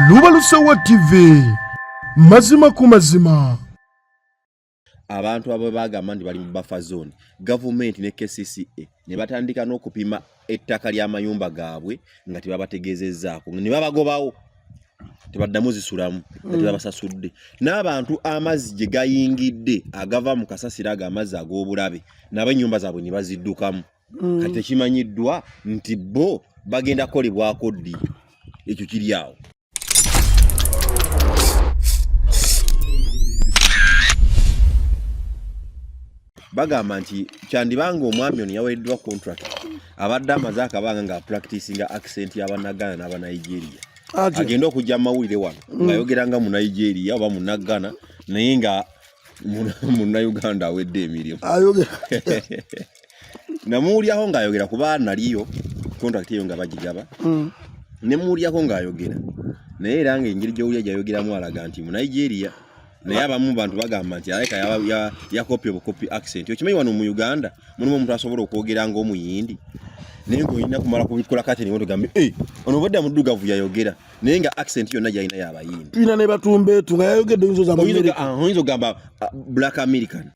lubalusewa tv mazima ku mazima abantu abo bagamba nti bali mu buffer zone gavumenti ne kcca ne batandika n'okupima ettaka ly'amayumba gaabwe nga tebabategeezezzaako ne babagobawo tebaddamu zisulamu nga tebabasasudde mm. n'abantu amazzi gye gayingidde agava mu kasasiro ago amazzi ag'obulabe nabo ennyumba zaabwe ne baziddukamu mm. kati ekimanyiddwa nti bo bagenda kukolebwako ddi ekyo kiri awo bagamba nti kyandibanga omwami ono yawereddwa contract abadde amaze akabanga nga practicinga accent y'abannagana n'abanigeria agenda okujja mu mawulire wano mm. ng'ayogera nga munigeria oba munagana naye nga munnauganda awedde emirimu namuwulyaho ng'ayogera kuba naliyo contract eyo nga bagigaba mm. ne muwulirako ng'ayogera naye era ng'engeri gy'owulya gy'ayogeramu alaga nti mu nigeria naye abamu bantu bagamba nti aleka yakopya obukopi accent okimanyi wano mu uganda mulimu omuntu asobola okwogera ng'omuyindi naye ng'olina kumala kubikula kati niwo tugambe e eh, ono obadde amuddugavu yayogera naye nga accent yonna gyalina yabayindi tulina ne batumbeetu nga yayogedde oyinza ogamba ah, black american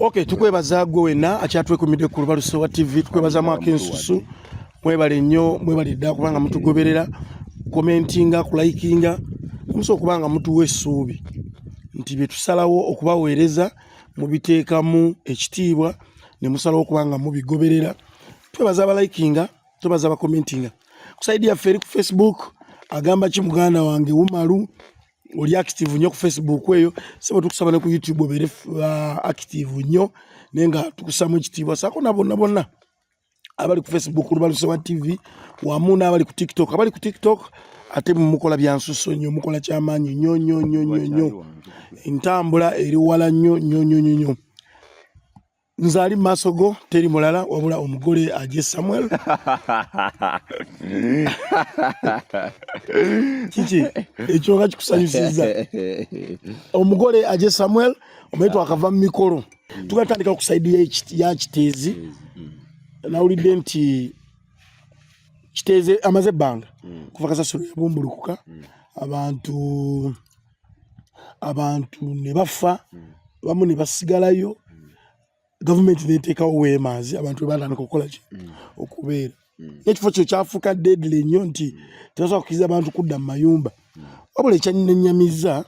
Okay, tukwebaza gwe wenna akyatwekumidde ku lubaluso wa TV tukwebazamu akensusu mwebale nnyo mwebale dda kubanga mutugoberera komentinga kulayikinga musa okuba nga mutuwa essuubi nti bye tusalawo okubaweereza mubiteekamu ekitiibwa ne musalawo okuba nga mubigoberera twebaza abalayikinga twebaza abakomentinga ku saidi yaffe eri ku facebook agamba ki muganda wange wumalu oli active nnyo ku facebook eyo sebo tukusaba ne ku youtube obeere uh, active nnyo naye nga tukusamu ekitiibwa saako na bonna bonna abali ku facebook lubaluse wa tv wamu n'abali ku tiktok abali ku tiktok ate mukola byansuso nnyo mukola kyamaanyi nnyo nnyo nnyo nnyo nnyo entambula eri wala nnyo nnyo nnyo nnyo nnyo nze ali mumaaso go teri mulala wabula omugole aje samuel kiki ekyo nga kikusanyusiza omugole aje samuel omaye twakava mu mikolo tugatandika ku saidi ya kiteezi nawulidde nti kiteeze amaze ebbanga kuva kasasiro yabumbulukuka abantu abantu ne bafa hmm. bamu ne basigalayo hmm. gavumenti neteekawo weemaazi abantu webatandika okukola ki hmm. okubeera nekifo kyo kyafuuka deadly nnyo nti tebasobola kukiriza abantu kudda mu mayumba wabula ekyannenyamizza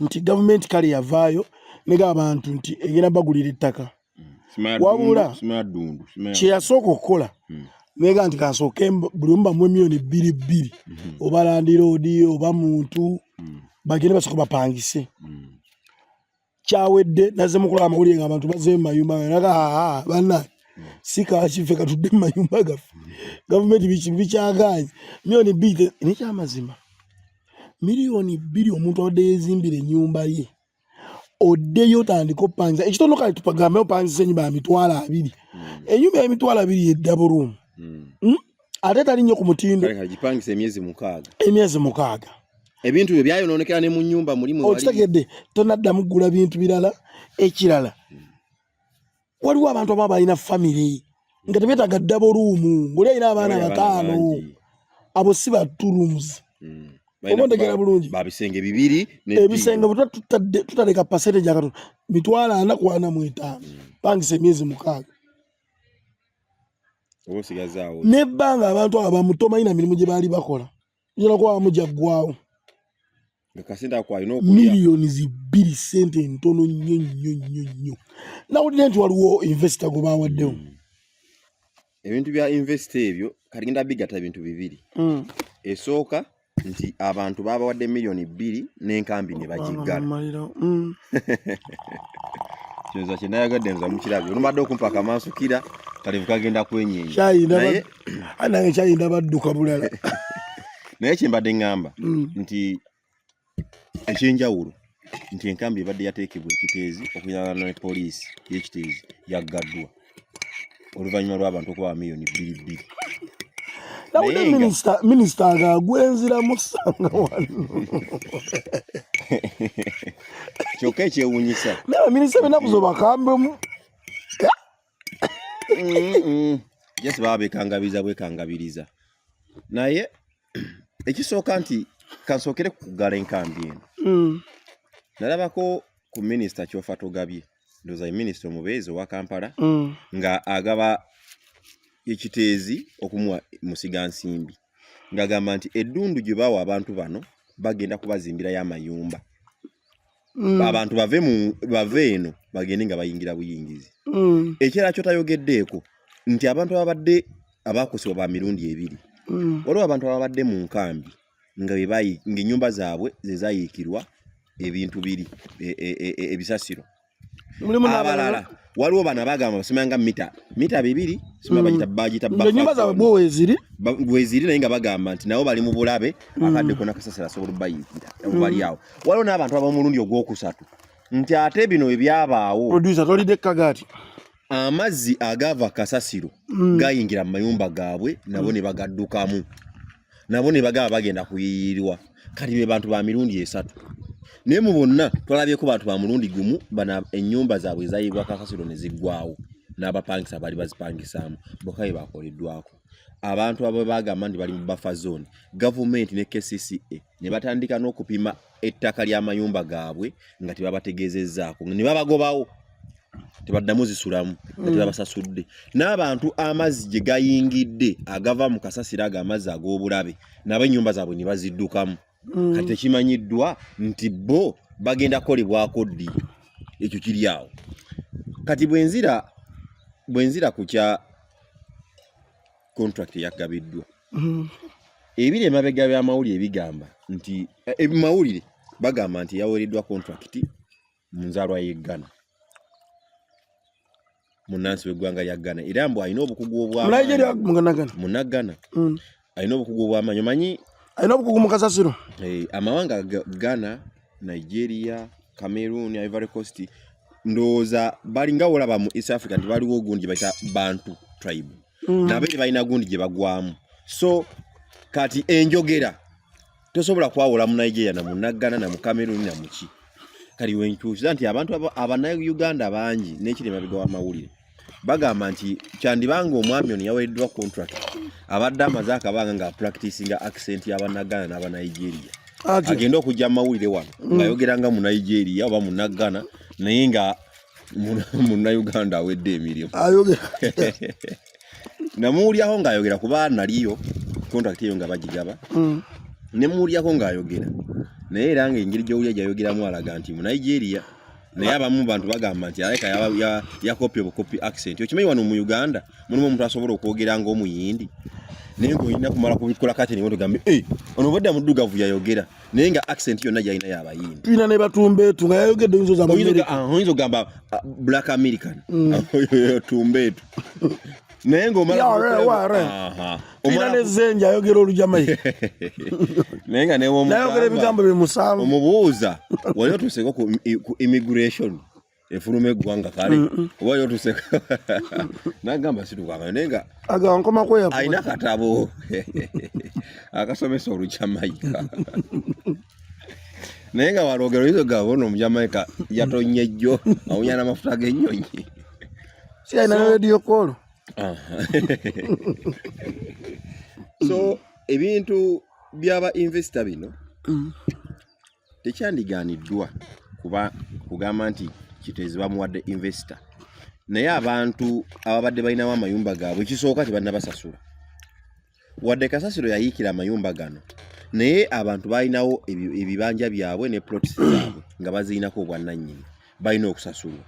nti gavumenti kale yavaayo nega abantu nti egenda bagulira ettaka mm. wabula kyeyasooka okukola mm. nega nti kansooke buli omu bamu emiyoni bbiri bbiri mm-hmm. oba landiroodi oba muntu mm. bagende basooka bapangise kyawedde naze mukola amawulire nga abantu baze mumayumba naga aa bana sikakife katudde mumayumba gaffe gavumenti bikyaganye miyoni bbiri nekyamazima miliyoni bbiri omuntu abadde yezimbira enyumba ye oddeyo otandika opanza ekitono kale tupagambe opanzisa enyumba ya mitwalo abiri hmm. enyumba ya mitwalo abiri yeddabo ruumu hmm. hmm? ate tali nnyo ku mutindo emyezi mukaaga ebintu byo byayononekera ne mu nyumba mulimu okitegedde tonaddamu kugula bintu birala ekirala waliwo abantu aba balina famire nga tebetaga ddabo luumu ngaoli alina abaana bataano abo si ba two rooms hmm. oba ntegera bulungi babisenge bibiri ebisenge butwa tutaleka pasente gyakatono mitwalo ana kwana mu etaano hmm. pangisa emyezi mukaaga nebbanga abantu abo bamutomanyi na mirimu gye baali bakola yona kuba bamujaggwawo nga kasente ako alina okulya miliyoni zibbiri sente ntono nnyo nnyo nnyo nnyo nawulira nti waliwo invesita gwe bawaddewo hmm. ebintu bya invesita ebyo kati genda bigata bintu bibiri hmm. esooka nti abantu babawadde miliyoni bbiri n'enkambi ne bagiggala hmm. kyoza kyenayagadde nza mukirabyo olumbadde okumpaka amansukira kalevu kagenda kwenyeenya anange kyalinda badduka bulala naye kyembadde ŋŋamba mm. nti ekyenjawulo nti enkambi ebadde yateekebwa ekiteezi okuyalana ne poliisi y'ekiteezi yaggaddwa oluvannyuma lw'abantu okuba bamiliyoni bbiri bbiri nawulira minisita minisita nga gwenziramu sanga wano kyokka ekyewunyisa naye minisita binaku zobakambemu jesi baba bekangabiriza bwekangabiriza naye ekisooka nti kansookere kukugala enkambi eno mm. nalabako ku minisita kyofa togabye ndoza ye minisita omubeezi owa kampala mm. nga agaba ekiteezi okumuwa musiga nsimbi ngagamba nti eddundu gye bawa abantu bano bagenda kubazimbirayo amayumba mm. abantu bave mu bave eno bagende nga bayingira buyingizi mm. ekirala kyo tayogeddeeko nti abantu ababadde abaakosebwa ba mirundi ebiri mm. waliwo abantu ababadde mu nkambi nga bebayi ng'ennyumba zaabwe ze zayiikirwa ebintu biri e, e, e, e, ebisasiro abalala waliwo bana bagamba basimanga mita mita bibiri sima bagita mm. bagita bafa nyumba za bwo weziri weziri naye nga bagamba nti nabo bali mu bulabe mm. akadde kona kasasira so bayingira mm. bali yawo waliwo n'abantu abamulundi ogwokusatu nti ate bino ebyabaawo producer tolide kagati amazzi agava kasasiro gayingira mu mayumba gaabwe nabo ne bagaddukamu nabo ne bagaba bagenda kuyiyirirwa kati be bantu ba mirundi esatu naye mu bonna twalabyeko bantu ba mulundi gumu bana ennyumba zaabwe ezayiibwa kakasiro ne ziggwawo n'abapangisa baali bazipangisaamu bokka be baakoleddwako abantu abo bagamba nti bali mu buffer zone gavumenti ne kcca ne batandika n'okupima ettaka ly'amayumba gaabwe nga tebabategeezezzaako ne babagobawo tebaddamu zisulamu nga mm. tebabasasudde n'abantu amazzi gye gayingidde agava mu kasasiro ago amazzi ag'obulabe nabo ennyumba zaabwe ne baziddukamu mm. kati tekimanyiddwa nti bo bagenda kukolebwako ddi ekyo kiri awo kati bwenzira bwenzira ku kya contract yagabiddwa mm-hmm. ebiri emabega by'amawulire bigamba nti ebimawulire eh, eh, bagamba nti yaweereddwa contract mu nzaalwa y'e Ghana munnansi w'eggwanga lya Ghana era mbu alina obukugu obwamunagana mm. alina obukugu obwamanyi omanyi alina obukugu mu kasasiro eh, amawanga Ghana Nigeria Cameroon Ivory Coast ndowooza balinga olaba mu east africa nti baliwo ogundi baita bantu tribe mm. nabo eri balina gundi gye bagwamu so kati enjogera tosobola kwawula mu nigeria na munaggana na mukameruni na muki kati wenkyusiza nti abantu abanauganda bangi nekiri emabega wamawulire bagamba nti kyandibanga omwami ono yawereddwa contract abadde amaze akabanga nga practicinga accent yabanagana n'abanigeria agenda okujja mu mawulire wano mm. ngayogeranga mu nigeria oba munaggana naye nga munnayuganda awedde emirimu namuwulyaho ng'ayogera kuba naliyo contract eyo nga bagigaba mm. nemuwulirako ng'ayogera naye era nga engeri gyowulya gyayogeramu alaga nti mu nigeria naye abamu bantu bagamba nti aleka yakopya obukopi accent okimanyi wano mu uganda mulimu omuntu asobola okwogera ngaomuyindi naye ngaolina kumala kubikola kati niwe tugambye eh, ono obadde muddugavu yayogera naye nga accent yonna gyalina yabayindi tulina ne batumbeetu nga yayogedde oyinza ah, ogamba ah, black american mm. tumbeetu naye ngaomalaa nezenja ayogera olujamaika naye nga newonayogera ebigambo bimusanvu omubuuza wali otuuseko ku immigration efuluma eggwanga kale oba yotuseka nagamba situkanga naye nga alina katabo akasomesa olujamaika naye nga walwogera oyiza ogamba ono omujamaika yatonye jjo awunya n'amafuta g'ennyonyi si alina ne rediyo koolo so ebintu byaba investor bino mm. tekyandigaaniddwa kuba kugamba nti kiteezi bamuwadde investor naye abantu ababadde balinawo amayumba gaabwe ekisooka tebanabasasula wadde kasasiro yayiikira amayumba gano naye abantu balinawo ebibanja byabwe ne plots zaabwe nga bazirinako obwannannyini balina okusasulwa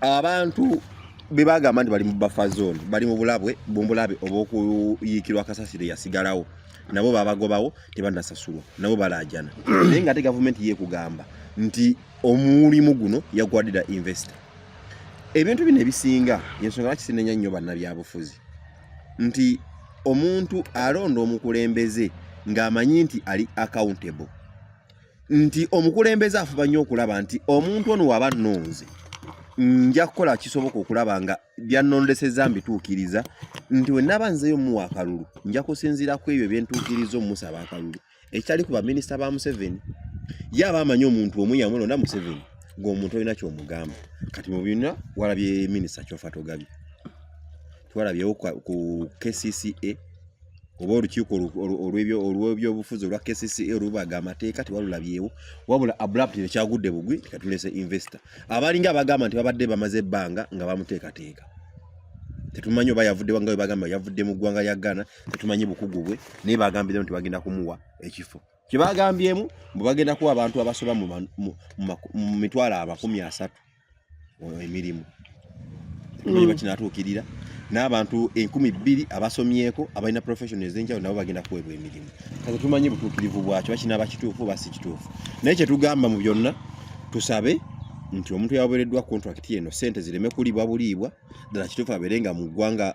abantu bebagamba nti bali mu buffer zone bali mu bulabwe bumbulabe obwokuyiikirwa kasasiro yasigalawo nabo babagobawo tebanasasulwa nabo balajana naye nga ate gavumenti yekugamba nti omulimu guno yagwadira investor ebintu bino ebisinga yensonga lwaki sinenya nnyo bannabyabufuzi nti omuntu alonda omukulembeze ng'amanyi nti ali accountable nti omukulembeze afuba nnyo okulaba nti omuntu ono waba nnonze nja kukola kisoboka okulaba nga byannondesezza mbituukiriza nti wenaba nzeyo muwa akalulu nja kusinziira ku ebyo byentuukiriza omumusaba akalulu ekitali ku baminisita ba museveni ye aba amanyi omuntu omu yamulonda museveni ng'omuntu olina kyomugamba kati mu byonna walabye minisita kyofa togabye twalabyewo ku kcca oba olukiiko olw'ebyobufuzi olwa kcca olubaga amateeka tewalulabyewo wabula abulapu tekyagudde bugwi tekatulese investor abalinga abagamba nti babadde bamaze ebbanga nga bamuteekateeka tetumanyi oba yavuddewa nga webagamba yavudde mu ggwanga lya ghana tetumanyi bukugu bwe naye bagambiremu nti bagenda kumuwa ekifo kyebagambyemu mbu bagenda kuwa abantu abasoba mu mitwalo amakumi asatu emirimu emanyi mm. bakinatuukirira n'abantu enkumi bbiri abasomyeko abalina profession ezenjawulo nabo bagenda kuweebwa emirimu kati tumanyi butuukirivu bwakyo bakinaba kituufu oba si kituufu naye kyetugamba mu byonna tusabe nti omuntu yawereddwa contract eno sente zireme kulibwa buliibwa ddala kituufu abeere nga mu ggwanga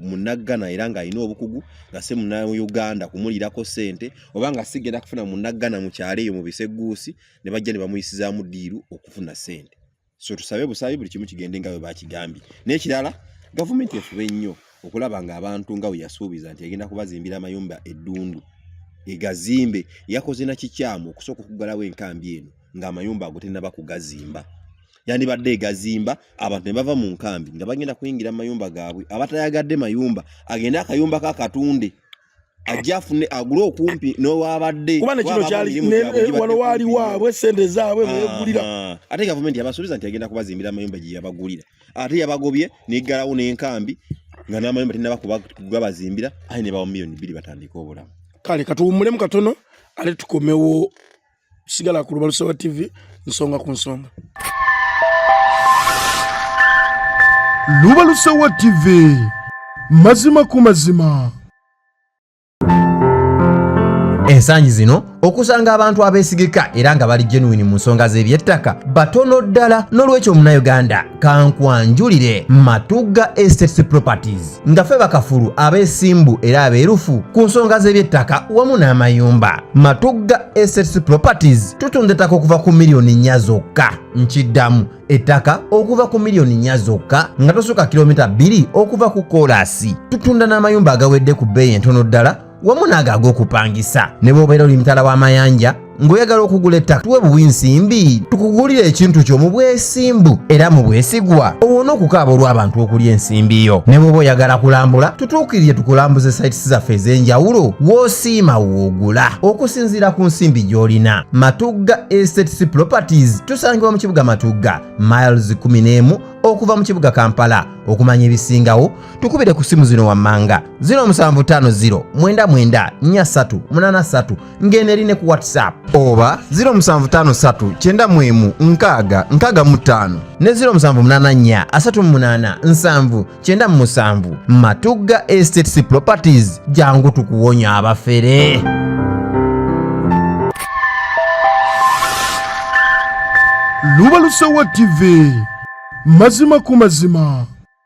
munaggana era ng'alina obukugu nga si munauganda kumulirako sente oba nga sigenda kufuna munaggana mu kyalo eyo mu biseguusi ne bajja ne bamuyisizaamu diiru okufuna ssente so tusabe busaayi buli kimu kigende nga bwe bakigambye n'ekirala gavumenti efube nnyo okulaba ng'abantu nga bwe yasuubiza nti egenda kubazimbira amayumba eddundu egazimbe yakoze na kikyamu okusooka okuggalawo enkambi eno ng'amayumba ago tennaba kugazimba yandibadde egazimba abantu ne bava mu nkambi nga bagenda kuyingira mu mayumba gaabwe abatayagadde mayumba agende akayumba kakatunde ajja afune agule okumpi n'owabadde kuba nekino kyali wano waali waabwe sente zaabwe begulira ah, ah. ate gavumenti yabasuubiza nti agenda kubazimbira amayumba gye yabagulira ate yabagobye neggalawo n'enkambi nga n'amayumba tinaba kugabazimbira aye ne bawa miliyoni bbiri batandika obulamu kale katuwummulemu katono ate tukomewo sigala ku lubalusa wa tv nsonga ku nsonga lubalusa wa tv mazima ku mazima ensangi zino okusanga abantu abeesigika era nga bali genuwini mu nsonga z'ebyettaka batono ddala n'olwekyo omunayuganda kankwanjulire matugga estates properties nga fe bakafulu abeesimbu era abeerufu ku nsonga z'ebyettaka wamu n'amayumba matugga estates properties tutunda ettaka okuva ku miliyoni nnya zokka nkiddamu ettaka okuva ku miliyoni nnya zokka nga tosuka kilomita bbiri okuva ku koolaasi tutunda n'amayumba agawedde ku bbeeyi entono ddala wamu naago ag'okupangisa ne bwobeera oli mutala w'amayanja ng'oyagala okugula ettaka tuwe buwi nsimbi tukugulire ekintu kyo mu bwesimbu era mu bwesigwa owone okukaaba olw'abantu okulya ensimbi yo ne bwoba oyagala kulambula tutuukirire tukulambuze sites zaffe ez'enjawulo w'osiima woogula okusinziira ku nsimbi gy'olina matugga estates properties tusangibwa mu kibuga matugga miles 11 okuva mu kibuga kampala okumanya ebisingawo tukubire ku simu zino wammanga 0750 mwenda nya satu munana satu ng'eno eri ne ku whatsapp oba 0753 kyenda mwemu nkaaga nkaaga mu ttaano ne 0784 nya asatu mu munana nsanvu kyenda mu musanvu matugga estates properties jangu tukuwonya abafere lubalusewa tv mazima ku mazima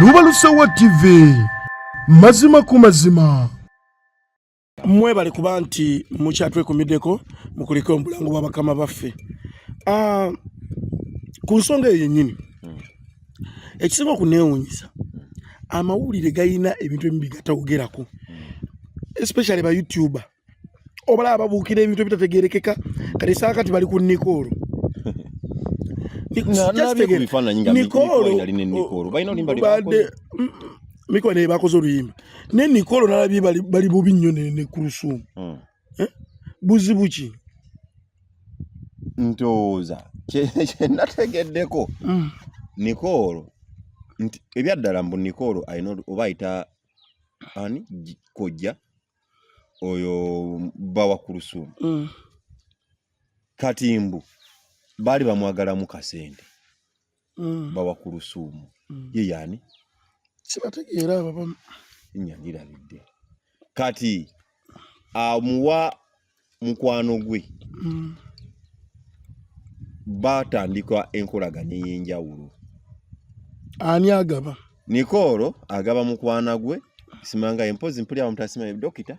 luba lusowa tv mazima ku mazima mwebale kuba nti mukyatwekumiddeko mukulike omulango bwa bakama baffe ah, ku nsonga eyo yennyini ekisinga okuneewunyisa amawulire galina ebintu ebimu bigatawogerako especially ba youtuber obalaba babuukira ebintu ebitategerekeka kati saa kati bali ku nikoolo mikoolo naye bakoze oluyimba naye nikoolo nalabye bali bubi nnyo ne kurusuumu hmm. eh? buzibu ki ntooza kyenategeddeko mm. nikoolo nti ebyaddala mbu nikoolo alina oba ayita ani kojja oyo bawa ku lusuumu mm. kati mbu baali bamwagalamu kasente mm. bawa kulusuumu mm. ye yaani sibategeera abo bamu nyagirabidde kati amuwa mukwano gwe mm. batandika enkolagana ey'enjawulo ani agaba nikoolo agaba mukwana gwe simanga empozi mpulira bamutasima dokita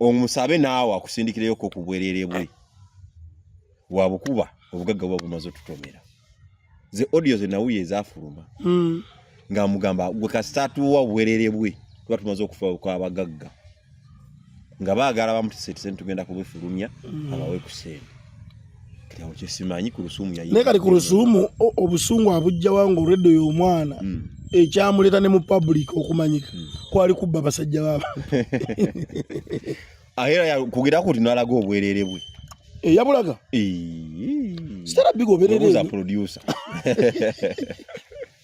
omusabe naawe akusindikireyoko ku bwerere bwe wabukuba obugagga buba bumaze otutomera ze audio ze nawuye ezafuluma hmm. ng'amugamba gwe kasita atuwa obwerere bwe tuba tumaze okufa kwabagagga nga baagala bamutiseti sente tugenda kubifulumya hmm. abawe ku sente naye kati ku lusuumu obusungu abujjawa nga olwedda oyo omwana hmm. ekyamuleeta ne mu public okumanyika hmm. kwali kubba basajja baba era kugera kuti nalaga obwerere bwe eh, yabulaga sitarabiga oberereoza producer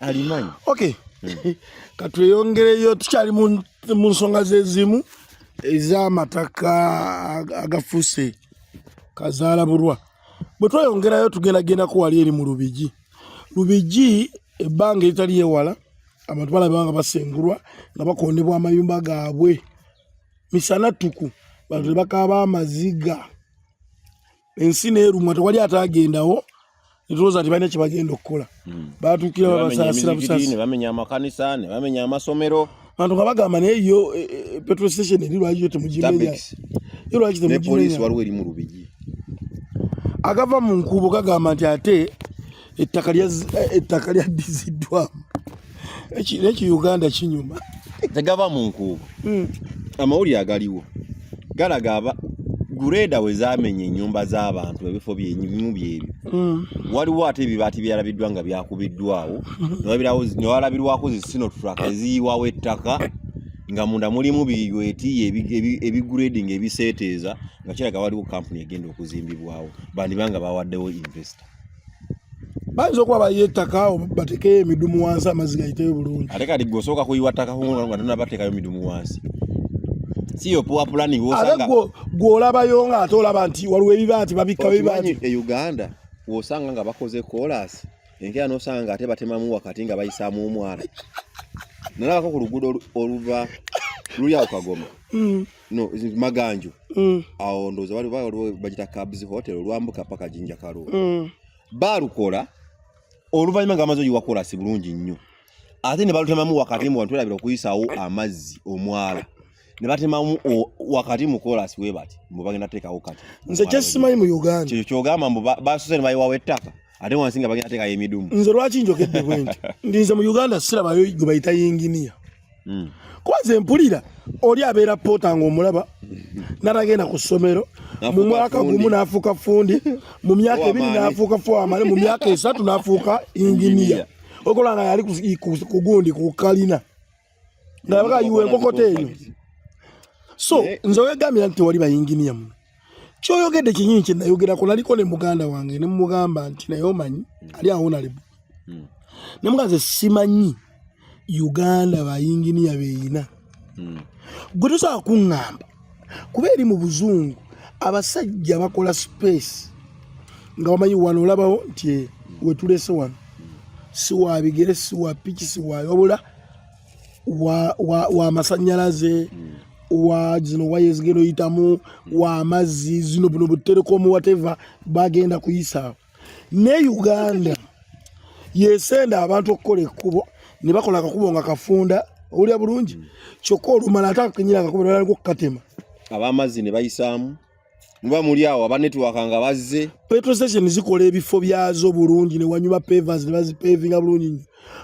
alimanyi okay hmm. katweyongereyo tukyali mu nsonga zezimu ez'amataka agafuuse kazaala bulwa bwe tweyongerayo tugendagendako wali eri mu lubigi lubigi ebbanga eritali ewala abantu balaba nga basengulwa nga bakondebwa amayumba gaabwe misana ttuku bantu ne bakaaba amaziga ensi neerumwa tewali ataagendawo netulooza nti balina kyebagenda okukola hmm. batuukira babasaasira busasi nebamenya amakanisa nebamenya amasomero bantu nga bagamba naye yo e, e, e, petrol station eri lwaki yo temugimenya yo lwaki temugimenya agava mu nkuubo gagamba nti ate ettaka eh, lyaddiziddwamu eki uganda kinyuma tegava mu nkuubo hmm. amawulire agaliwo galaga aba gureeda we zamenya ennyumba z'abantu ebifo byebimu byebyo hmm. waliwo ate ebibaati byalabiddwa nga byakubiddwawo hmm. newalabirwako zisino tulaka eziyiwawo ettaka nga munda mulimu biyweti ebiguredinga ebiseeteeza nga kiraga waliwo kampuni egenda okuzimbibwawo bandibanga bawaddewo investor bayinza okuba bayiye ettaka batekeyo emidumu wansi amazzi gayiteyo bulungi ate kati gwe osooka kuyiwa ttaka nga tonabateekayo midumu wansi siyo poor planning wosanga gwo gwolabayo nga ate olaba nti waliwo ebiba nti babikka biba nti e Uganda wosanga nga bakoze chorus enkera nosanga nga ate batemamu wakati nga bayisaamu omwana nalabako ku luguudo oluva luli awo kagoma mm. no maganju mm. awo ndoza wali wali bajita cabs hotel olwambuka paka jinja karu mm. barukola oluvanyuma nga amazo yiwakola si bulungi nnyo ate ne balutemamu wakati mu bantu erabira okuyisawo amazzi omwala ne batemamu wakati mu kolasi we bati mbu bagenda teekawo kati nze kyesimanyi mu uganda kyekyo kyogamba mbu basuse ne bayiwawo ettaka ate wansi nga bagenda teekayo emidumu nze lwaki njogedde bwe nti ndinze mu uganda sirabayo gwe bayita yinginiya hmm. kuba nze mpulira oli abeera poota ng'omulaba natagenda ku ssomero mu mwaka gumu n'afuuka fundi mu myaka ebiri n'afuuka fuamale mu myaka esatu n'afuuka yinginiya okola nga yali ku gundi ku kalina nga abaga ayiwa enkokota eyo so eh. nze wegambira nti wali bayinginiya muno kyoyogedde kinyini kyenayogerako naliko ne muganda wange nemugamba nti naye omanyi hmm. ali awonalebo hmm. namuga nze simanyi uganda bayinginiya beyina hmm. gwe tosobola kuŋŋamba kuba eri mu buzungu abasajja bakola space nga wamanyi wano olabawo nti eh, wetulese wano siwabigere siwapiki siwayobula wa, wa, wa masanyalaze mm. wa zino waya ezigenda oyitamu wa amazzi zino buno buterekomu wateva bagenda kuyisaawo ne uganda yesenda abantu okukola ekkubo ne bakola akakubo nga kafunda owulira bulungi mm. kyokka olumala ate akakenyera akakubo nalali kukatema abamazzi ne bayisaamu muba muli awo aba network nga bazze petrol station zikola ebifo byazo bulungi ne wanyuma pavers ne bazipavinga bulungi nyo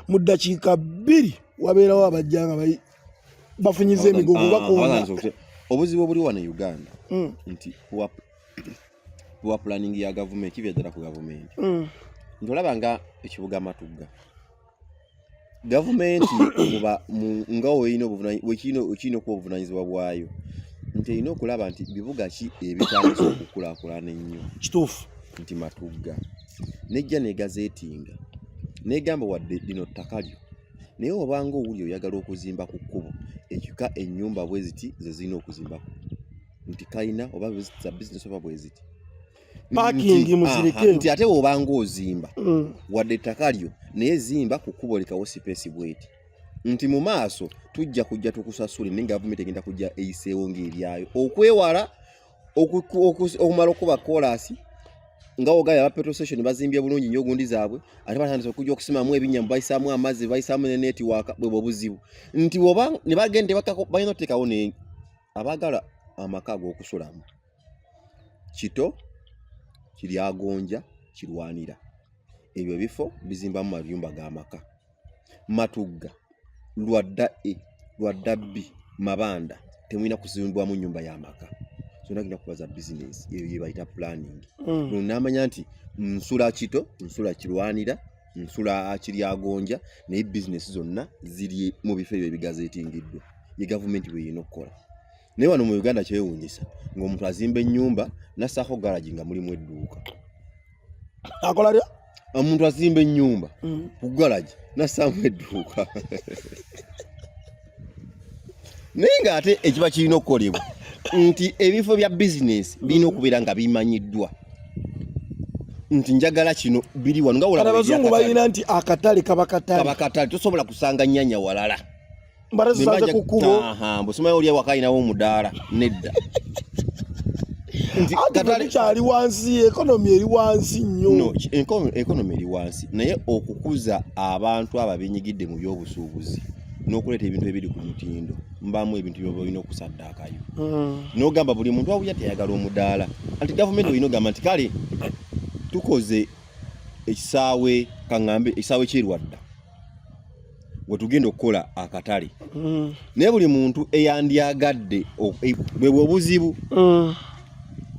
mu ddakiika bbiri wabeerawo abajja nga bafunyiza emigogo bakonda obuzibu obuli wano e uganda mm. nti wa planning ya gavumenti kibyajala ku gavumenti mm. nti olaba nga ekibuga matugga gavumenti nga olina okuba obuvunanyizibwa bwayo nti erina okulaba nti bibuga ki ebitandisa okukulakulana ennyo kituufu nti matugga nejja negazeetinga negamba wadde lino ttaka lyo naye obanga owuli oyagala okuzimba ku kkubo ekika ennyumba bweziti zezirina okuzimbaku nti kalina oba za bizinesi oba bweziti nti ate wobanga ozimba mm. wadde ettaka lyo naye zimba ku kkubo lekawo sipeesi bweti nti mu maaso tujja kujja tukusasule naye gavumenti egenda kujja eyiseewo ngaebyayo okwewala okumala okuba koolaasi nga ogaya aba petrol station bazimbye bulungi nyo gundi zaabwe ate batandise okujja okusimamu ebinyama bayisaamu amazzi bayisaamu ne netiwaaka bwebwe obuzibu nti oba ne bagenda balina otekawo ne abagala amaka ag'okusulamu kito kiryagonja kirwanira ebyo bifo bizimbamu mayumba ga maka matugga lwadda e lwadda bbi mabanda temulina kuzimbwamu nyumba ya maka zona genda kuba za bizinesi eyo yebayita planning mm. namanya nti nsula kito nsula kirwanira nsula kiryagonja naye bizinesi zonna ziri mu bifo ebyo ebigazetingiddwa ye gavumenti bweyina okukola naye wano mu uganda kyewuunyisa ng'omuntu azimba ennyumba nassaako garagi nga mulimu edduuka akola lya omuntu azimba ennyumba mm. ku garagi nassaamu edduuka naye ng'ate ekiba kirina okukolebwa nti ebifo bya bizinesi birina okubeera nga bimanyiddwa nti njagala kino biri wano nga wolaabazungu balina nti akatale kaba katale tosobola kusanga nyanya walala mbara zisanze ku kubo aha bosoma oli awakayi nawo omudaala nedda katale kyali wansi ekonomi eri wansi nnyo ekonomi eri wansi naye okukuza abantu abo abenyigidde mu byobusuubuzi n'okuleeta ebintu ebiri ku mutindo mbamu ebintu byoba olina okusaddaakayo hmm. n'ogamba buli muntu awulira teyagala omudaala anti gavumenti olina ogamba nti kale tukoze ekisaawe kaŋŋambe ekisaawe kyerwadda wetugenda okukola akatale mm. naye buli muntu eyandyagadde e, bwebwe obuzibu mm.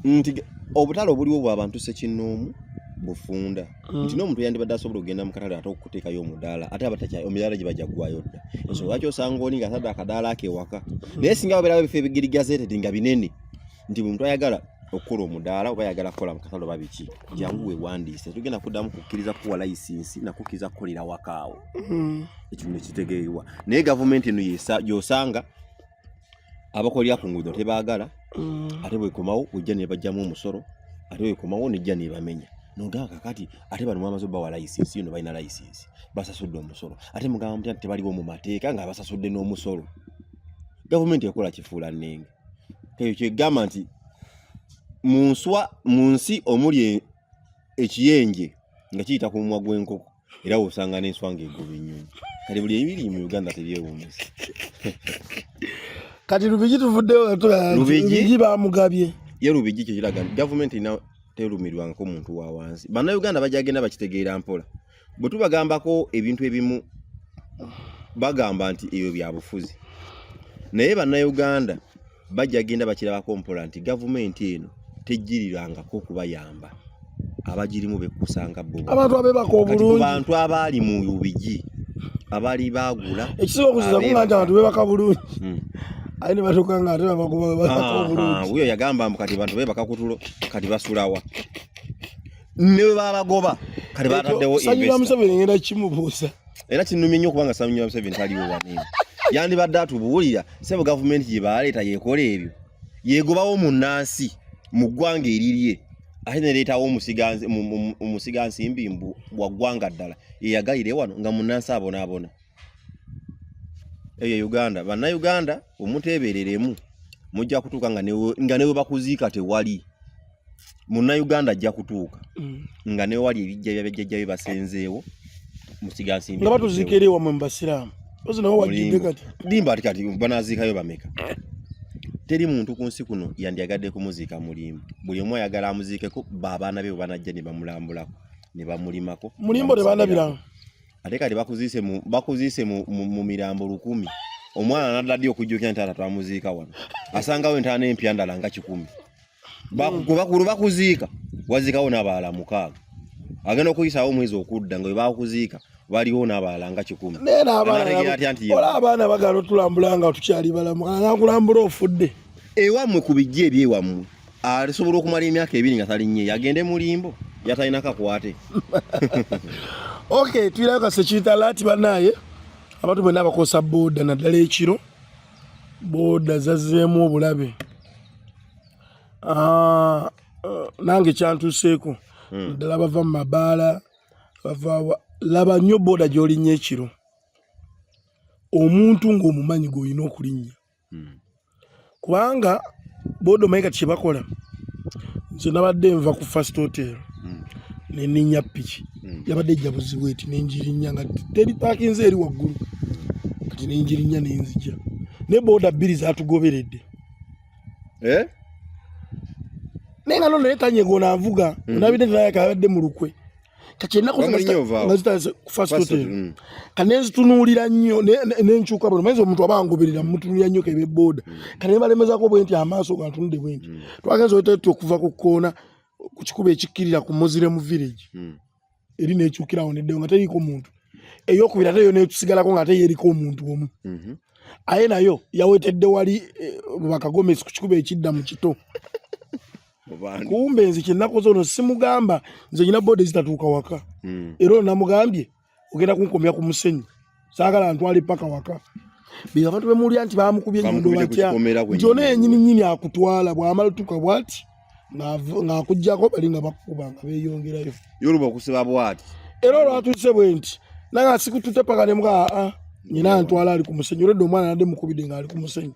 nti obutale obuliwo bwabantu sekinoomu bufunda mm. nti n'omuntu yandibadde asobola okugenda mu katale ate okuteekayo omudaala ate omudaala gye bajja ggwayo dda ensonga lwaki osanga oli nga atadde akadaala akewaka naye singa babeerawo ebifo ebigirigazetedi nga binene nti buli muntu ayagala okukola omudaala oba ayagala kukola mukatale oba biki jangu wewandiise tugenda kuddamu kukkiriza kuwa layisinsi nakukkiriza kukolera wakaawo hmm. ekino nekitegeerwa naye gavumenti eno yosanga abakolera ku nguudo tebaagala hmm. ate bwekomawo ojja nebajjamu omusolo ate bwekomawo nejja nebamenya nogamba kakati ate bano mwamaze obawa layisinsi yono balina layisinsi basasudde omusolo ate mugamba mutya nti tebaliwo mu mateeka nga basasudde n'omusolo gavumenti ekola kifuula nnenge ekyo kyegamba nti mu nswa mu nsi omuli e, ekiyenje nga kiyita ku mumwa gw'enkoko era wosanga n'enswa ng'egoba ennyonyi kati buli ebiri mu uganda tebyewuunyisa kati lubigi tuvuddelubigi bamugabye ye lubigi kyekiraga nti gavumenti terumirwangako muntu wa wansi bannayuganda bajagenda bakitegeera mpola bwe tubagambako ebintu ebimu bagamba nti ebyo bya bufuzi naye bannayuganda bajja genda bakirabako mpola nti gavumenti eno tejjirirangako okubayamba abagirimu bekkusanga bo abantu abebaka obulungi bantu abaali mu ubigi abaali baagula ekisinga okuziza kunga nti abantu bebaka bulungi hmm. aye ne batuuka nga ate babagoba bebaka obulungi wuyo yagamba mbu kati bantu bebaka kutulo kati basulawa ne bwe babagoba kale bataddewo sanyira museveni ngenda kimubuuza era kinumye nnyo kubanga sanyira museveni taliwo wanene yandibadde atubuulira sebo gavumenti gye baaleeta yekola ebyo yegobawo mu nnansi mu ggwanga erirye ate nereetawo omusigansimbi mbu wa ggwanga ddala eyagalire wano nga mu nnansi abonaabona eyo e uganda bannayuganda omuteebereremu mujja kutuuka nga newe bakuziika tewali munnayuganda ajja kutuuka mm. nga newali ebijja byabajjajjabe basenzeewo musigansimbi nga batuziika eri ewamwe mu basiraamu limba ati kati banaziikayo bameka teri muntu ku nsi kuno yandyagadde kumuziika mulimbo buli omu ayagala amuziikeko baabaana be bwe banajja ne bamulambulako ne bamulimako mulimbo tebanabiranga ate kati bakuziise mu bakuziise mu, mu, mu mirambo lukumi omwana nadda ddi okujjukira nti taata twamuziika wano asangawo entaana empya ndala nga kikumi bakulu bakuziika waziikawo n'abalala mukaaga agenda okuyisaawo omwezi okudda nga webakuziika waliwo n'abalala nga kikumi ola abaana bagala otulambula nga tukyali balamu anakulambula ofudde ewammwe ku bijja ebyewammwe alisobola ah, okumala emyaka ebiri nga talinnye yagende mulimbo yatalina kakwate okay tuyirayo kasekiyita laati banaaye abantu bwena abakozesa booda naddala ekiro booda zazzeemu obulabe ah, eh, nange kyantuseeko hmm. naddala bava mu mabaala bava laba nnyo booda gyolinya ekiro omuntu ng'omumanyi gweolina okulinnya hmm. kubanga boda omanyi kati kyebakola nze nabadde nva ku first hotel hmm. neninya piki hmm. yabadde ejja buzibu eti nenjirinya nga teri pakinze eri waggulu kati nenjirinya nenzija ne boda bbiri zatugoberedde eh? naye nga nonaye tanyegona nvuga nabidde nayakabadde mu lukwe kati ennaku zinazitasfastot mm. kati nenzitunuulira nnyo nenkyuka bano mayinza omuntu aba angoberera mutunulira nnyo kebe booda mm. kati nebalemezako bwe nti amaaso gantunudde bwe nti mm. twagenza otetti okuva ku kkoona ku kikuba ekikkirira ku muslim village eri nekyukirawo neddewo nga teriiko muntu eyokubira ate yo netusigalako nga ate yeriko omuntu omu mhm. aye nayo yawetedde wali eh, bakagomesi ku kikuba ekidda mu kito kumbe nze kyenakoze ono simugamba nze nyina bode zitatuuka waka hmm. era ono namugambye ogenda kunkomya ku musenyi saagala ntwale paka waka bino abantu bemulya nti bamukubye nyondo batya nti ono yenyini nyini akutwala bwamala tuka bwati ng'akuggyako bali nga bakukuba nga beeyongerayo yoluba okusiba bwati era olwatuuse bwe nti naye asikututte paka ne mbwa aa nyina antwala ali ku musenyu oledde omwana nadde mukubidde ng'ali ku musenyu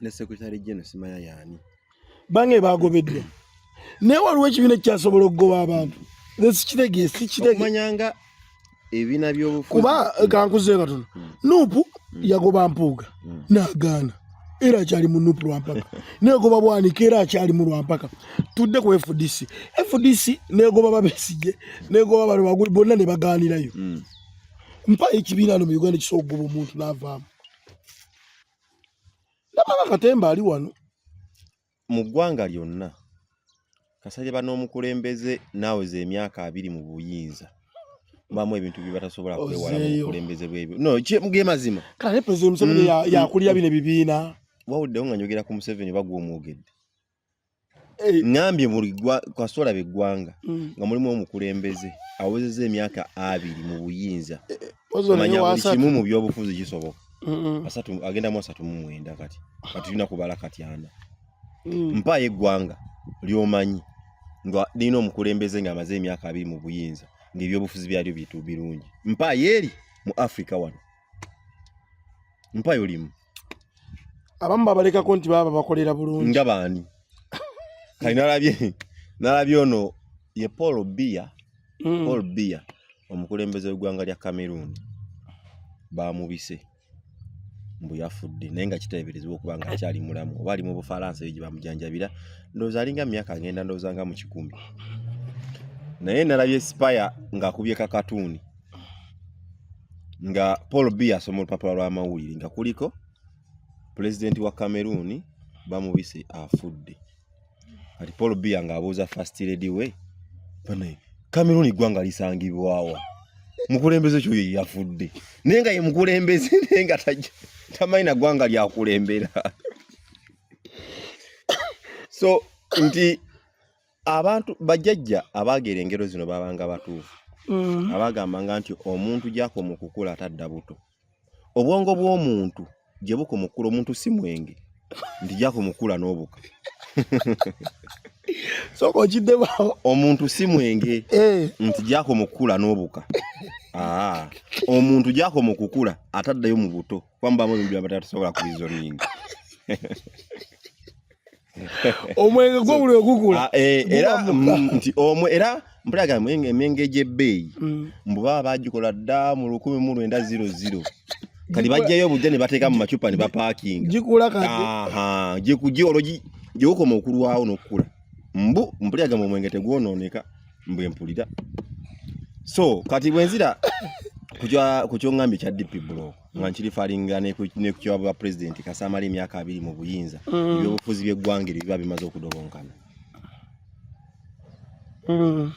ne secretary general simanya yani bange bagobeddwa naye waliwo ekibiina ekikyasobola okugoba abantu sikitegesikitegeomanyanga ebina byobufuzi kuba eh, kankuze katono hmm. nupu hmm. yagoba mpuuga hmm. nagaana era akyali mu nupu lwampaka negoba bwanika era akyali mu lwampaka tudde ku fdc fdc negoba babesige negoba bano baguli bonna ne bagaanirayo mpayo ekibiina no mu uganda kisobola okugoba omuntu n'avaamu ndabanga katemba ali wano mu ggwanga lyonna kasajaba n'omukulembeze naaweza emyaka abiri mu buyinza bamu ebintu byebatasobola kwewala mu bukulembeze bwebyo no ge mazima kala ne president museveni mm, mm, yakulira mm. bino ebibiina wawuliddewo nga njogera ku museveni bagwa omwogedde ngambye buli kasoola beggwanga mm. nga mulimu omukulembeze awezeza emyaka abiri mu buyinza eh, eh, manya buli kimu mu byobufuzi kisoboka agendamu asatu mu mwenda kati kati tulina kubala kati ana mm. mpaayo eggwanga lyomanyi nga lirina omukulembeze nga amaze emyaka abiri mu buyinza ngaebyobufuzi byalyo bitu birungi mpaayo eri mu africa wano mpaayo limu abamu babalekako nti baba bakolera bulungi nga baani kali nalabye nalabye ono ye paul bia mm. paul bia omukulembeze wegwanga lya cameroon bamubise mbu yafudde naye nga kiteeberezebwa okuba nga akyali mulamu oba ali mu bufalansa eyo gye bamujanjabira ndowooza alinga myaka agenda ndowooza nga mu kikumi naye nalabye sipaya ng'akubye kakatuuni nga paul b asoma olupapula lw'amawulire nga kuliko pulezidenti wa cameroon bamubise afudde kati paul b nga abuuza fast lady we banaye cameroon ggwanga lisangibwawa mukulembeze ekyo ye yafudde naye nga ye mukulembeze naye nga tamanyi na ggwanga lyakulembera so nti abantu bajjajja abaagera engero zino babanga batuufu mm. abagambanga nti omuntu gyakoma okukula atadda buto obwongo bw'omuntu gye bukoma okukula omuntu si mwenge nti gyakoma okukula n'obuka sooka okiddemu omuntu si mwenge eh. nti gyakoma okukula n'obuka ah, omuntu gyakoma okukula ataddayo mu buto kuba mubamu ebintu byabatasobola kubizoninga omwenge gwo buli ogugula ah, eh, era mm, nti omwe era mpulaga emyenge gy'ebbeeyi mm. mbu baba bagikola dda mu lukumi mu lwenda ziro ziro kati bajjayo obujja ne bateeka mu macupa ne bapaakinga gikula kati gikugi olwo gyewukoma okulwawo n'okukula mbu mpulira gamba omwenge tegwonooneka mbu empulira so kati bwenzira ku kyongambye kya dp block nga nkiri falinga nekukiwa bwa pulezidenti kasamala emyaka abiri mu buyinza mm. ebyobufuzi byeggwanga eryo biba bimaze okudobonkana mm.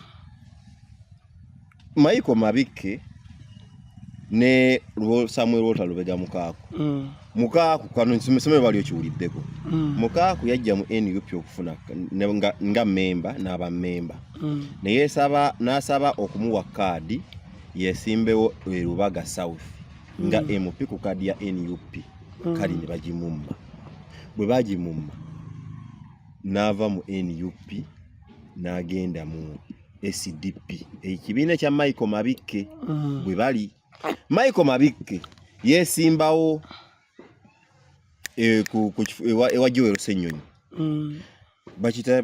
maiko mabikke ne samuel walter lubega mukaaku mm. mukaaku kano somero bali okiwuliddeko mukaaku yajja mu nup okufuna nga memba n'abamemba naye nasaba okumuwa kaadi yesimbewo e Lubaga South nga mm. MP ku kadi ya NUP mm. kali ne bagimumma bwe bagimumma n'ava mu NUP n'agenda mu SDP ekibiina kya Michael Mabikke mm. bwe bali Michael Mabikke yesimbawo e, ku, ku, ewa, ewa Joel Ssenyonyi mm. bakita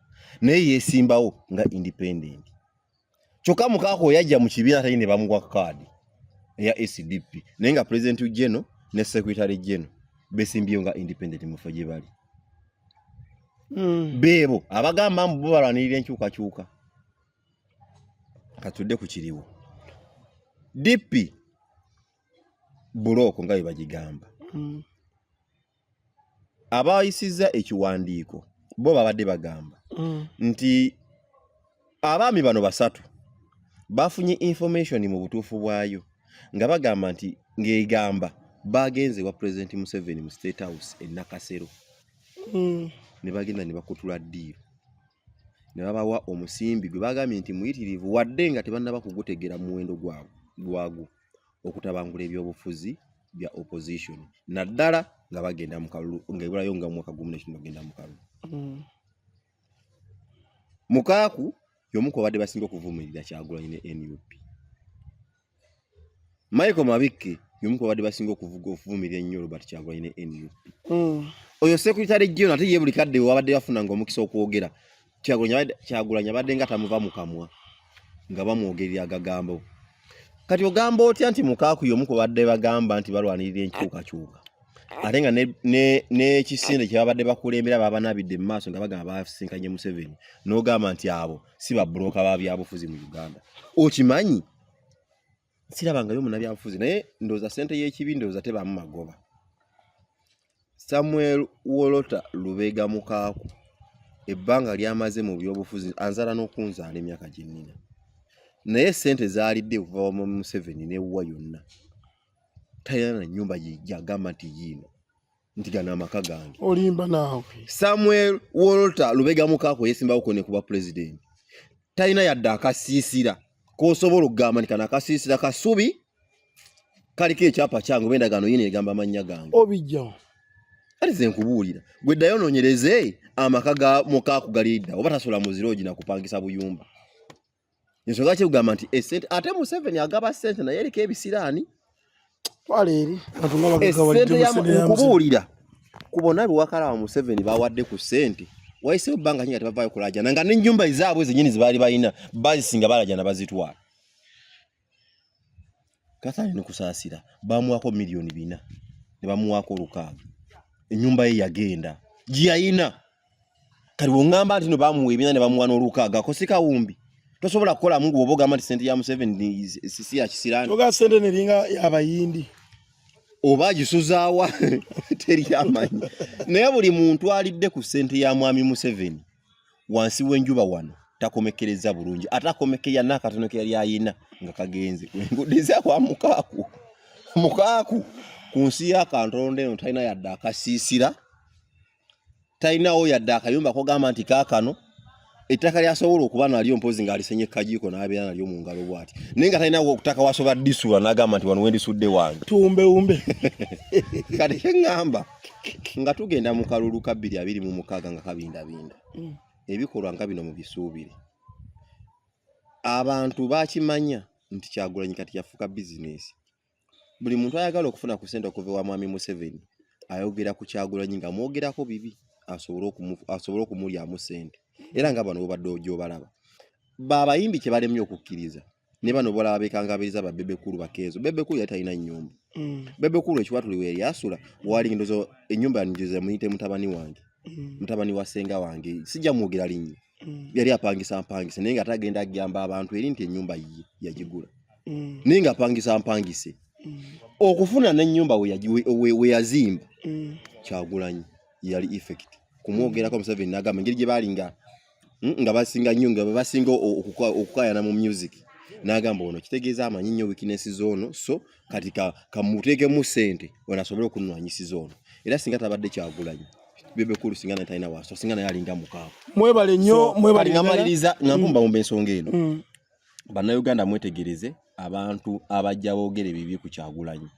naye yesimbawo nga independent kyokka mukaako yajja mu kibiina atali ne bamuwa kaadi eya sdp naye nga president geno ne secretary geno besimbyeyo nga independent mufo gye bali hmm. beebo abagamba mbu balwanirira enkyukakyuka katudde ku kiriwo dp bulooko nga bwe bagigamba hmm. abaayisizza ekiwandiiko bo babadde bagamba mm. nti abaami bano basatu bafunye information mu butuufu bwayo nga bagamba nti ng'egamba baagenze wa pulezidenti museveni mu state house e nakasero mm. ne bagenda ne bakutula ddiiro ne babawa omusimbi gwe bagambye nti muyitirivu wadde nga tebannaba kugutegeera muwendo gwagwo okutabangula ebyobufuzi bya opposition naddala nga bagenda mu kalulu nga ebulayo nga mwaka gumu nekino bagenda mu kalulu mm. mukaaku yomu ku babadde basinga okuvumirira kyagulanyi ne nup michael mabikke yomu ku babadde basinga okuvumirira ennyo robert kyagulanyi ne nup mm. oyo sekuritale jona ate ye buli kadde wabadde bafuna nga omukisa okwogera kyagulanyi abadde nga tamuva mu kamwa nga bamwogerera agagambo kati ogamba otya nti mukaaku yomu ku badde bagamba nti balwanirira enkyukakyuka ate nga n'ekisinde kye babadde bakulembera babanabidde mu maaso nga bagamba basinkanye museveni n'ogamba nti abo si babuloka ba byabufuzi mu uganda okimanyi sirabangayo munabyabufuzi naye ndooza sente y'ekibi ndooza tebaamu magoba samuel wolota lubega mukaaku ebbanga lyamaze mu byobufuzi anzala n'okunzaala emyaka gyennina naye sente zaalidde okuva wama museveni newuwa yonna talina na nyumba gyagamba nti yiino nti gano amaka gange olimba naawe samuel walter lubega mukaako yesimbawo kone kuba pulezidenti talina yadde akasiisira kosobola okugamba nti kano akasiisira kasubi kaliko ekyapa kyange oba endagaano yina egamba amannya gange obijjawo kati ze nkubuulira gwe ddayo onoonyereze amaka ga mukaaku galiidda oba tasobola muziroogi nakupangisa buyumba ensonga kyekugamba nti esente ate museveni agaba sente naye eriko ebisiraani okubuulira ku bona bewakalaba museveni bawadde ku sente wayisewo bbanga nyinga tebavaayo kulajana nga nenyumba ezaabwe zenyini zebaali balina bazisinga balajana bazitwala Kathari Nukusaasira baamuwaako miliyoni bina ne bamuwaako olukaaga ennyumba ye yagenda gye yalina kati bw'oŋŋamba nti no baamuwa ebina ne bamuwa n'olukaaga ako si kawumbi tosobola kukolamu gwe oba ogamba nti sente ya Museveni si ya kisiraani toga sente neringa y'abayindi oba agisuzaawa teri amanyi naye buli muntu alidde ku sente ya mwami Museveni wansi w'enjuba wano takomekkereza bulungi ate akomekeya n'akatono ke yali ayina nga kagenze enguudo ezakwa mukaaku mukaaku ku nsi y'akantonda eno talina yadde akasiisira talinawo yadde akayumba kogamba nti kaakano ettaka lyasobola okuba nalyo mpozi ngaalisenye kajiiko n'abeera nalyo mu ngalo bwati naye nga talinawo okutaka wasobola disula n'agamba nti wano wendisudde wange tumbewumbe kati kye ŋŋamba nga tugenda mu kalulu ka bbiri abiri mu mukaaga nga kabindabinda mm. ebikolwa nga bino mu bisuubire abantu bakimanya nti kyagulanyi kati yafuuka bizinesi buli muntu ayagala okufuna ku sente okuva ewa mwami museveni ayogera ku kyagulanyi nga mwogerako bibi asobole okumulyamu sente era nga bano bobadde gyobalaba baabayimbi kyebalemye okukkiriza ne bano bolaba bekangabiriza ba bebe kulu bakezo bebe kulu yatalina nyumba mm. bebe kulu ekiwatuli we yasula wali ndozo enyumba yanjuze muyite mutabani wange mm. mutabani wa senga wange sija mugira linyi mm. yali apangisa mpangise nenga atagenda agamba abantu eri nti enyumba yi yajigula mm. nenga apangisa mpangise mm. okufuna ne nyumba we yajiwe we, we yazimba mm. kyagulanyi yali effect kumwogerako mm. museveni nagamba ngeri gye balinga hmm, nga basinga nnyo nga basinga okukayana mu music n'agamba ono kitegeeza amanyi nnyo wikinesi zoono so kati kamuteekemu sente ono asobole okunwanyisiza ono era singa tabadde kyagulanyi bebe kulu singa naye talina waaso singa naye alinga mukaabu mwebale nnyo mwebale nga maliriza nga mpumbawumba mm. ensonga eno mm. bannayuganda mwetegereze abantu abajja boogera ebibi ku kyagulanyi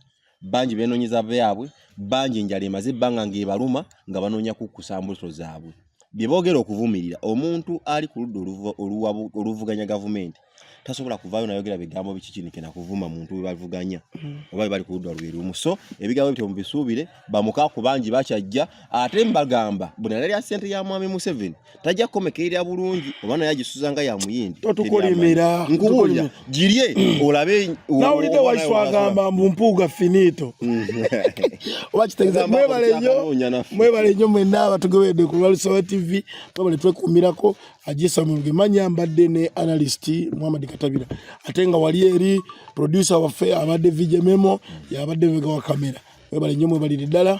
bangi benoonyeza byabwe bangi enjala emaze ebbanga ng'ebaluma nga banoonya kukkusa mbuto zaabwe bye boogera okuvumirira omuntu ali ku ludda oluvuganya gavumenti tasobola kuvaayo nayogera bigambo bikikinike nakuvuma muntu webavuganya hmm. oba bebali ku ludda lwe lumu so ebigambo bityo mubisuubire bamukaku bangi bakyajja ate mbagamba bwe nalya ssente ya mwami museveni tajja kukomekerera bulungi oba naye agisuza nga yamuyindi totukolimira nkubuulira girye olabe nawulidde waiswa agamba mbu mpuuga finito oba kitegeeza mwebale nnyo mwebale nnyo mwenna abatugoberedde ku lwalusoba tv mwebale twekuumirako ajesa mulungi manya mbadde ne analyst muhammad katabira ate nga wali eri producer waffe abadde vijememo yabadde mbega wa kamera mwebale nnyo mwebalire ddala